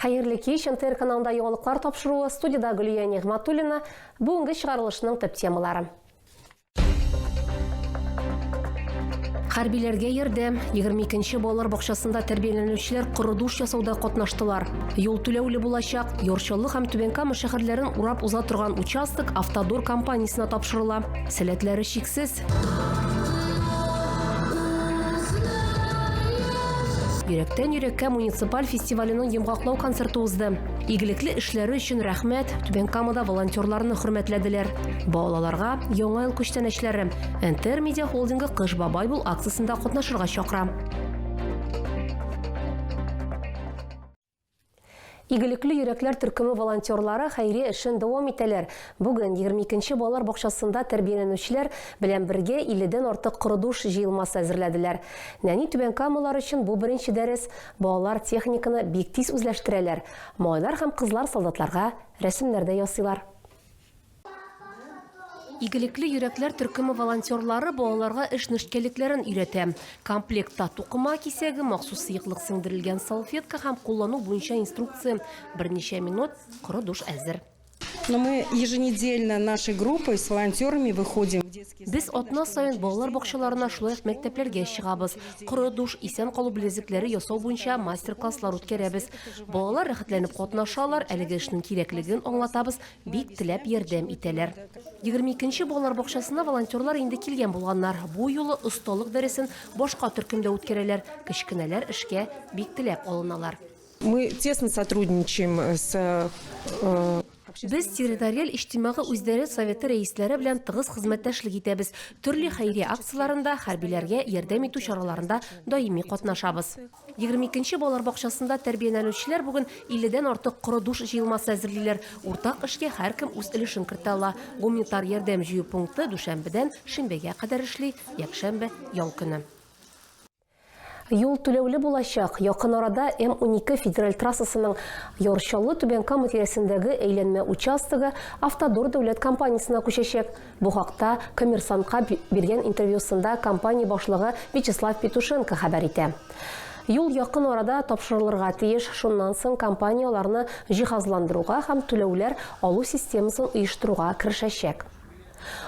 Хәерле кич, НТР каналында яңалыклар тапшыруы, студида Гөлия Нигъматуллина, бүгенге чыгарылышның төп темалары. Хәрбиләргә ярдәм 22-нче балалар бакчасында тәрбияләнүчеләр корыдуш ясауда катнаштылар. Юл түләүле булачак. Юрчыллы һәм Түбән Кама шәһәрләрен урап уза торган участок Автодор компаниясенә тапшырыла. Сәләтләре чиксез. Йөрәктән йөрәккә муниципаль фестиваленең йомгаклау концерты узды. Игелекле эшләре өчен рәхмәт, Түбән Камада волонтерларны хөрмәтләделәр. Балаларга яңа ел күчтәнәчләре Энтер медиа холдингы Кыш бабай бул акциясендә катнашырга чакыра. Игелекле йөрәкләр төркеме волонтерлары хәйрия эшен дәвам итәләр. Бүген 22 нче балалар бакчасында тәрбияләнүчеләр белән бергә 50 дән артык корыдуш җыелмасы әзерләделәр. Нәни түбән камалар өчен бу беренче дәрес. Балалар техниканы бик тиз үзләштерәләр. Малайлар һәм кызлар солдатларга рәсемнәр дә ясыйлар. Игелекле йөрәкләр төркеме волонтерлары балаларга эш нечкәлекләрен өйрәтә. Комплектта тукыма кисәге, махсус сыеклык сеңдерелгән салфетка һәм куллану буенча инструкция. Берничә минут, коры душ әзер. Но мы еженедельно нашей группой с волонтерами выходим в детские Без сады, атна саен балалар бакчаларына, шулай ук мәктәпләргә чыгабыз. Коры душ, исән калу белезекләре ясау буенча мастер-класслар үткәрәбез. Балалар рәхәтләнеп катнашалар, әлеге эшнең кирәклеген аңлатабыз, Бик теләп ярдәм итәләр. Егерме икенче балалар бакчасына волонтерлар инде килгән булганнар. Бу юлы осталык дәресен башка төркемдә үткәрәләр. Кечкенәләр эшкә бик теләп алыналар. Мы тесно сотрудничаем с э, Без территориаль иҗтимагый үзидарә советы рәисләре белән тыгыз хезмәттәшлек итәбез. Төрле хәйрия акцияләрендә, хәрбиләргә ярдәм итү чараларында даими катнашабыз. Егерме икенче балалар бакчасында тәрбияләнүчеләр бүген 50 дән артык коры душ җыелмасы әзерлиләр. Уртак эшкә һәркем үз өлешен кертә ала. Гумнитар ярдәм җыю пункты дүшәмбедән шимбәгә кадәр эшли, якшәмбе, ял көне. Юл түләүле булачак. Якын арада М-12 федераль трассасының Яр Чаллы-Түбән Кама тирәсендәге әйләнмә участогы Автодор дәүләт компаниясенә күчәчәк. Бу хакта Коммерсантка биргән интервьюсында компания башлыгы Вячеслав Петушенко хәбәр итә. Юл якын арада тапшырылырга тиеш, шуннан соң компания аларны җиһазландыруга һәм түләүләр алу системасын оештыруга керешәчәк.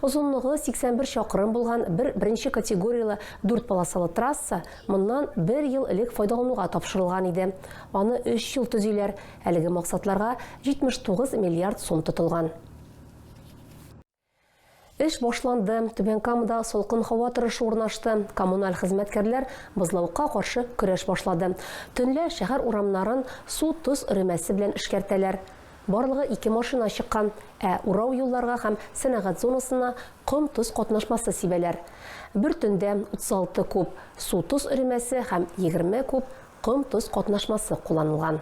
Озынлыгы 81 чакрым булган бер беренче категорияле дүрт полосалы трасса моннан бер ел элек файдалануга тапшырылган иде. Аны өч ел төзиләр, әлеге максатларга 79 миллиард сум тотылган. Эш башланды. Түбән Камада салкын һава торышы урнашты. Коммуналь хезмәткәрләр бозлавыкка каршы көрәш башлады. Төнлә шәһәр урамнарын су-тоз өремәсе белән эшкәртәләр. Барлыгы ике машина чыккан. Ә урау юлларга һәм сәнәгать зонасына ком-тоз катнашмасы сибәләр. Бер төндә 36 куб су-тоз өремәсе һәм 20 куб ком-тоз катнашмасы кулланылган.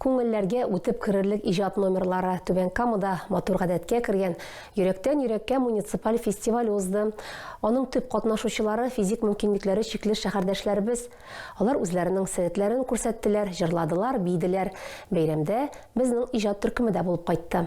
Күңелләргә үтеп керерлек иҗат номерлары Түбән Камада матур гадәткә кергән Йөрәктән йөрәккә муниципаль фестиваль узды. Аның төп катнашучылары физик мөмкинлекләре чикле шәһәрдәшләребез. Алар үзләренең сәләтләрен күрсәттеләр, җырладылар, биеделәр. Бәйрәмдә безнең иҗат төркеме дә булып кайтты.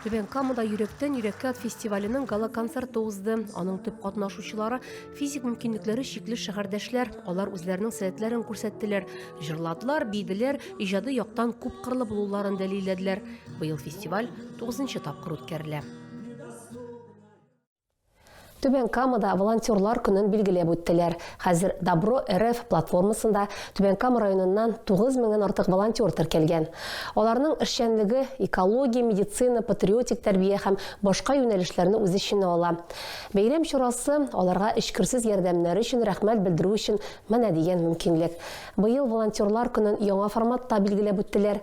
Түбән Камада йөрәктән йөрәккә фестиваленең гала-концерты узды. Аның төп катнашучылары физик мөмкинлекләре чикле шәһәрдәшләр. Алар үзләренең сәләтләрен күрсәттеләр, җырладылар, биделәр, иҗади яктан күп кырлы булуларын дәлилләделәр. Быел фестиваль 9 тапкыр үткәрелә. Түбән Камада волонтерлар көнен билгеләп үттеләр. Хәзер Добро РФ платформасында Түбән Кама районыннан 9 меңнән артык волонтер теркәлгән. Аларның эшчәнлеге экология, медицина, патриотик тәрбия һәм башка юнәлешләрне үз эченә ала. Бәйрәм чарасы аларга эчкерсез ярдәмнәре өчен рәхмәт белдерү өчен менә дигән мөмкинлек. Быел волонтерлар көнен яңа форматта билгеләп үттеләр.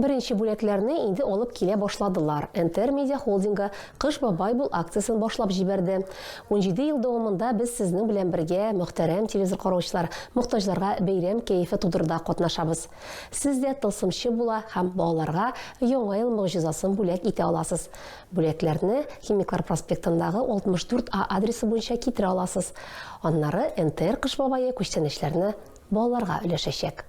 Беренче бүләкләрне инде алып килә башладылар. НТР Медиа Холдингы Кыш бабай бул акциясен башлап җибәрде. Унҗиде ел дәвамында без сезнең белән бергә, мөхтәрәм телевизор караучылар, мохтаҗларга бәйрәм кәефе тудыруда катнашабыз. Сез дә тылсымчы була һәм балаларга Яңа ел могҗизасын бүләк итә аласыз. Бүләкләрне Химиклар проспектындагы 64 А адресы буенча китерә аласыз. Аннары НТР Кыш бабае күчтәнәчләрне балаларга өләшәчәк.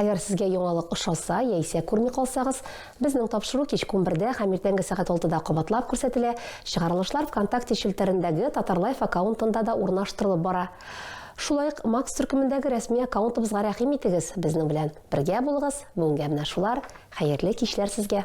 Әгәр сезгә яңалык ошаса яисә күрми калсагыз, безнең тапшыру кичке унбердә һәм иртәнге сәгать алтыда кабатлап күрсәтелә, чыгарылышлар ВКонтакте челтәрендәге Татарлайф аккаунтында да урнаштырылып бара. Шулай ук Макс төркемендәге рәсми аккаунтыбызга рәхим итегез, безнең белән бергә булыгыз, бүгенгә менә шулар, хәерле кичләр сезгә!